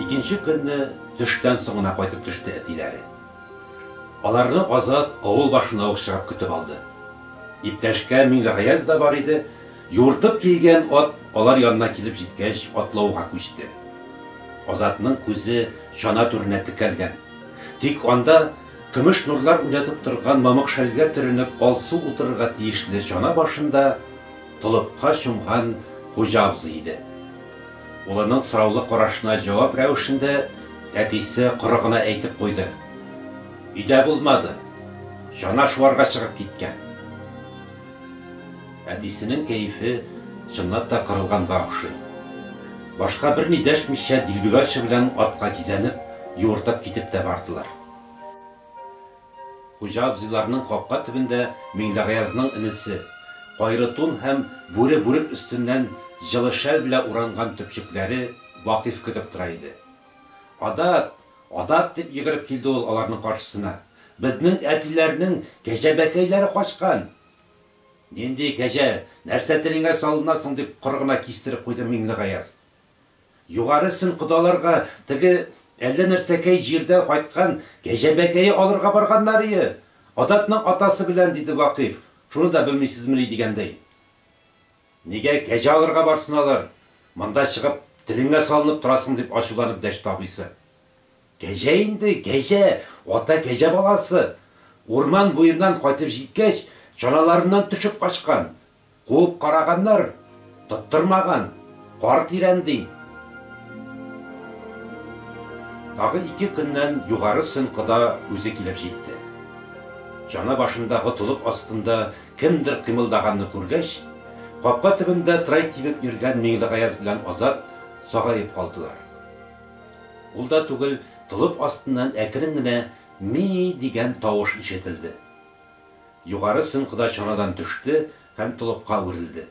Икенче көнне төштән соң гына кайтып төште әтиләре. Аларны Азат авыл башына ук чыгып көтеп алды. Иптәшкә Миңлегаяз да бар иде. Юыртып килгән ат алар янына килеп җиткәч атлауга күчте. Азатның күзе чана түренә текәлгән. Тик анда көмеш нурлар уйнатып торган мамык шәлгә төренеп алсу утырырга тиешле чана башында толыпка чумган хуҗа абзый иде. Улының сораулы карашына җавап рәвешендә әтисе коры гына әйтеп куйды, Өйдә булмады. Чана шуарга чыгып киткән. Әтисенең кәефе чынлап та кырылганга охшый. Башка берни дәшмичә Дилбегачы белән атка кизәнеп, юыртып китеп тә бардылар. Хуҗа абзыйларның капка төбендә Миңлегаязнын энесе, кайры тун һәм бүре бүрек өстеннән җылы шәл белә уранган төпчекләре Вакыйф көтеп тора иде. Адат! Адат! дип йөгереп килде ул аларның каршысына. Безнең әтиләрнең кәҗәбәкәйләре качкан! Нинди кәҗә, нәрсә телеңә салына соң, дип коры гына кистереп куйды Миңлегаяз. Югары сөн кодаларга теге әллә нәрсәкәй җирдән кайткан кәҗәбәкәе алырга барганнарые, Адатның атасы белән, диде Вакыйф, шуны да белмисезмени дигәндәй. Нигә кәҗә алырга барсын алар, монда чыгып телеңә салынып торасың, дип ачуланып дәште абыйсы. Кәҗә инде, кәҗә! Ата кәҗә баласы! Урман буеннан кайтып җиткәч, чаналарыннан төшеп качкан. Куып караганнар, тоттырмаган. Кар тирән, ди. Тагы ике көннән Югары Сөн кода үзе килеп җитте. Чана башындагы толып астында кемдер кыймылдаганны күргәч, капка төбендә трай тибеп йөргән Миңлегаяз белән Азат сагаеп калдылар. Ул да түгел, толып астыннан әкрен генә ми-и дигән тавыш ишетелде. Югары сөмкда чанадан төште һәм толыпка үрелде.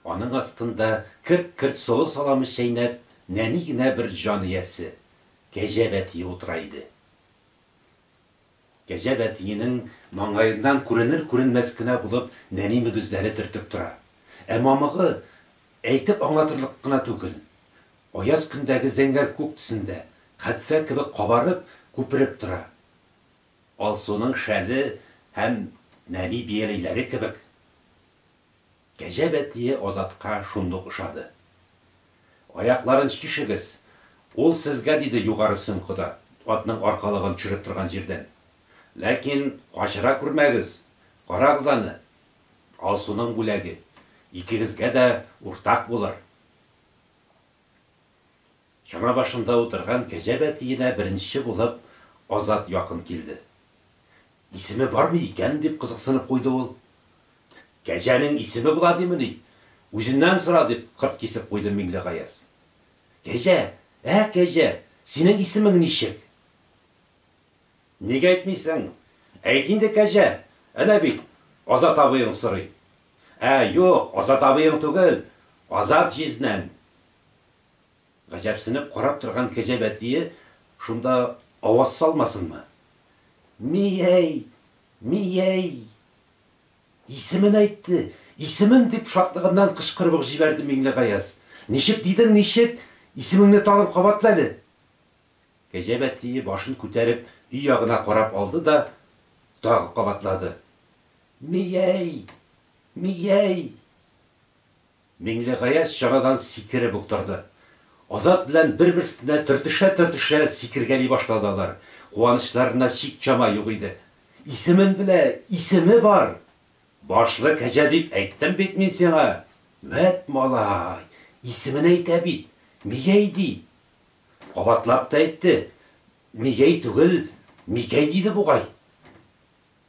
Аның астында, керт-керт солы саламы чәйнәп, нәни генә бер җан иясе, кәҗә бәтие утыра иде. Кәҗә әтиенең маңгаеннан күренер-күренмәс кенә булып нәни мөгезләре төртеп тора. Ә мамыгы, әйтеп аңлатырлык кына түгел. Аяз көндәге зәңгәр күк төсендә, кадфә кебек кабарып, күпереп тора. Алсуның шәле һәм нәни бияләйләре кебек. Кәҗә бәтие Азатка шундук ошады. Аякларын чишегез, ул сезгә, диде югары сөмкыда, атның аркалыгын төшереп торган җирдән. Ләкин качыра күрмәгез, карагыз аны. Алсуның бүләге икегезгә дә уртак булыр. Чана башында утырган кәҗә бәтиенә беренче булып Азат якын килде. Исеме бармы икән? дип кызыксынып куйды ул. Кәҗәнең исеме була димени? Үзеннән сора, дип кырт кисеп куйды Миңлегаяз. Кәҗә, ә, кәҗә, синең исемең ничек? Ник әйтмисең? Әйт инде, кәҗә! Әнә бит, Азат абыең сорый. Ә, юк, Азат абыең түгел, Азат җизнәң. Гаҗәпсенеп карап торган кәҗә бәтие шунда аваз салмасынмы? Ми-әй! Ми-әй! Исемен әйтте! Исемен! дип шатлыгыннан кычкырып ук җибәрде Миңлегаяз. Ничек дидең, ничек? Исемеңне тагын кабатла әле! Кәҗә бәтие башын күтәреп өй ягына карап алды да тагы кабатлады. Ми-әй! Ми-әй! Миңлегаяз чанадан сикереп үк торды. Азат белән бер-берсенә төртешә-төртешә сикергәли башлады алар. Куанычларына чик-чама юк иде. Исемен белә, исеме бар! Башлы кәҗә дип әйттем бит мин сиңа! Вәт малай! Исемен әйтә бит! Мигәй ди! Кабатлап та әйтте, Мигәй түгел, Мигәй диде бугай.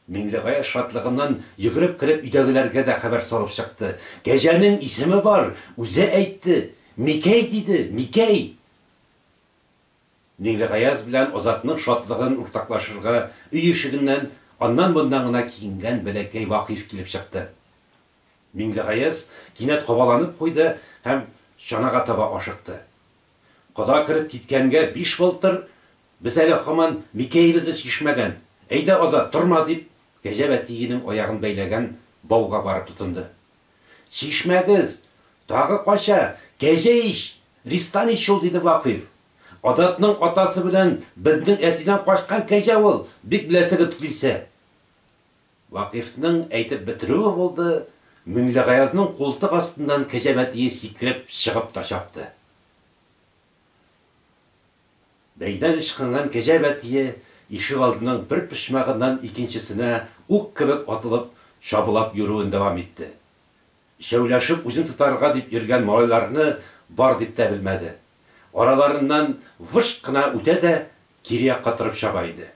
Миңлегаяз шатлыгыннан йөгереп кереп өйдәгеләргә дә хәбәр салып чыкты. Кәҗәнең исеме бар, үзе әйтте, Микәй диде, Микәй! Миңлегаяз белән Азатның шатлыгын уртаклашырга өй ишегеннән аннан-моннан гына киенгән бәләкәй Вакыйф килеп чыкты. Миңлегаяз кинәт кабаланып куйды һәм чанага таба ашыкты. Кода кереп киткәнгә биш былтыр, без әле һаман микәебезне чишмәгән. Әйдә, Азат, торма, дип, Кәҗә Вәтиенең аягын бәйләгән бауга барып тотынды. Чишмәгез! Тагы кача! Кәҗә ич! Ристан ич ул, диде Вакыйф. Азатның атасы белән безнең әтидән качкан кәҗә ул, бик беләсе кебек килсә. Вакыйфның әйтеп бетерүе булды, Миңлегаязның култык астыннан кәҗә бәтие сикереп чыгып та чапты. Бәйдән ычкынган кәҗә бәтие ишегалдының бер почмагыннан икенчесенә ук кебек атылып, чабулап йөрүен дәвам итте. Өчәүләшеп үзен тотарга дип йөргән малайларны бар дип тә белмәде. Араларыннан вышт кына үтә дә кире якка торып чаба иде.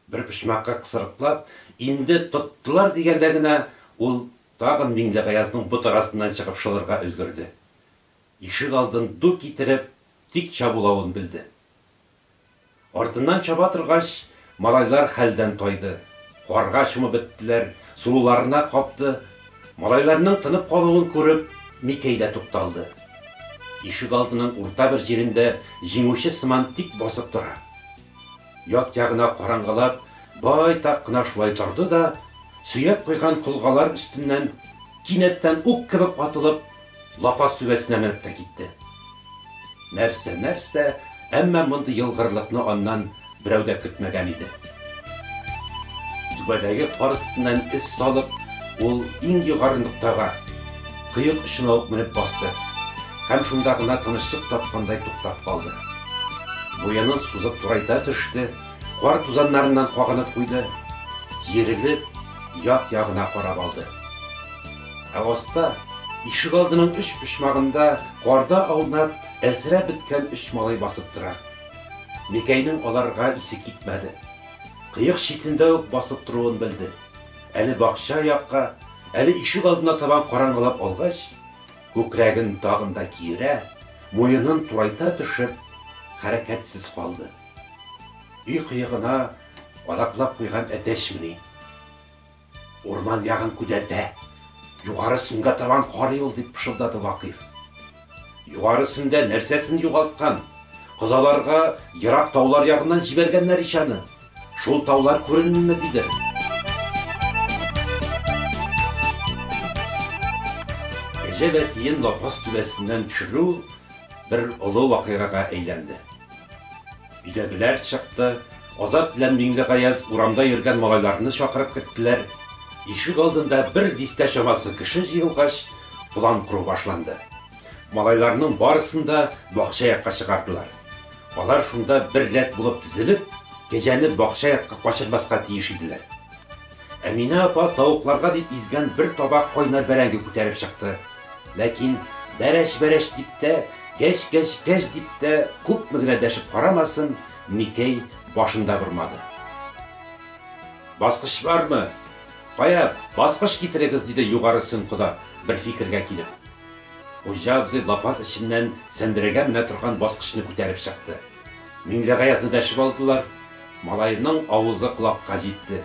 Бер почмакка кысрыклап, инде тоттылар дигәндә генә, ул тагын Миңлегаязның бот арасыннан чыгып шылырга өлгерде. Ишек алдын ду китереп, тик чабулавын белде. Артыннан чаба торгач, малайлар хәлдән тайды, карга чумып беттеләр, сулуларына капты. Малайларның тынып калуын күреп, Микәй дә тукталды. Ишек алдының урта бер җирендә җиңүче сыман тик басып тора. Як-ягына караңгылап, байтак кына шулай торды да, сөяп куйган колгалар өстеннән кинәттән ук кебек атылып, лапас түбәсенә менеп тә китте. Нәрсә-нәрсә, әмма мондый елгырлыкны аннан берәү дә көтмәгән иде. Түбәдәге кар өстеннән эз салып, ул иң югары ноктага. кыек очына ук менеп басты һәм шунда гына тынычлык тапкандай туктап калды. Муенын сузып турайта төште, кар тузаннарыннан кагынып куйды, киерелеп, як-ягына карап алды. Ә аста, ишегалдының өч почмагында карда аунап, әлсерәп беткән өч малай басып тора. Микәйнең аларга исе китмәде. Кыек читендә үк басып торуын белде. Әле бакча якка, Әле ишегалдына табан караңгылап алгач, күкрәген тагын да киерә, муенын турайта төшеп, хәрәкәтсез калды. Өй кыегына адаклап куйган әтәчмени? Урман ягын күдәтә, югары сөнгә табан карый ул, дип пышылдады Вакыйф. Югарысендә нәрсәсен югалткан? Кодаларга ерак таулар ягыннан җибәргәннәр ич аны. Шул таулар күренмиме, дидер. Кәҗә бәтиен лапас түбәсеннән төшерү бер олы вакыйгага әйләнде. Өйдәгеләр чыкты. Азат белән Миңлегаяз урамда йөргән малайларны чакырып керттеләр. Ишек алдында бер дистә чамасы кеше җыелгач, план кору башланды. Малайларның барысын да бакча якка чыгардылар. Алар шунда бер рәт булып тезелеп, кәҗәне бакча якка качырмаска тиеш иделәр. Әминә апа тавыкларга дип изгән бер табак кайнар бәрәңге күтәреп чыкты. Ләкин бәрәч-бәрәч дип тә, гәч-гәч-гәч дип тә күпме генә дәшеп карамасын, Микәй башын да бормады. Баскыч бармы? Кая, баскыч китерегез, диде Югары Сөн кода, бер фикергә килеп. Хуҗа абзый лапас эченнән сәндерәгә менә торган баскычны күтәреп чыкты. Миңлегаязны дәшеп алдылар. Малаемның авызы колакка җитте.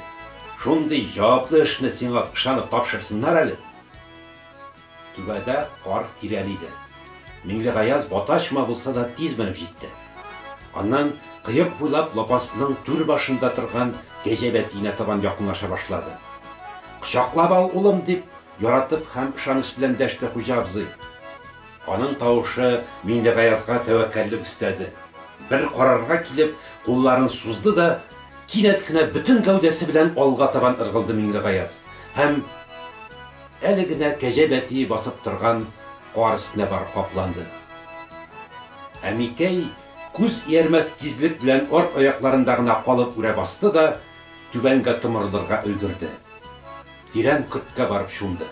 Шундый җаваплы эшне сиңа ышанып тапшырсыннар әле! Түбәдә кар тирәли иде. Миңлегаяз батачма булса да тиз менеп җитте. Аннан кыек буйлап лапасның түр башында торган кәҗә бәтиенә табан якынлаша башлады. Кочаклап ал, улым! дип, яратып һәм ышаныч белән дәште хуҗа абзый. Аның тавышы Миндегаязга тәвәккәллек өстәде. Бер карарга килеп, кулларын сузды да, кинәт кенә бөтен гәүдәсе белән алга табан ыргылды Миңлегаяз һәм әле генә кәҗә бәтие басып торган кар өстенә барып капланды. Ә Микәй күз иярмәс тизлек белән арт аякларында гына калып үрә басты да, түбәнгә томырылырга өлгерде. Тирән көрткә барып чумды.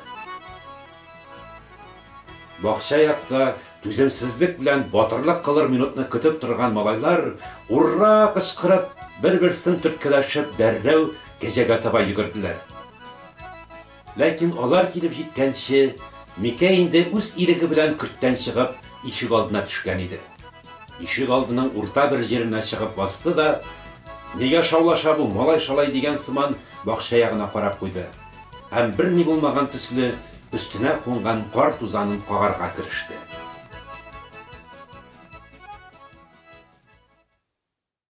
Бакча якта түземсезлек белән батырлык кылыр минутны көтеп торган малайлар, ур-ра кычкырып, бер-берсен төрткәләшеп, дәррәү кәҗәгә таба йөгерделәр. Ләкин алар килеп җиткәнче, Микәй инде үз иреге белән көрттән чыгып, ишек алдына төшкән иде. Ишек алдының урта бер җиренә чыгып басты да, Нигә шаулаша бу малай-шалай дигән сыман, бакча ягына карап куйды. һәм берни булмаган төсле өстенә кунган кар тузанын кагарга кереште.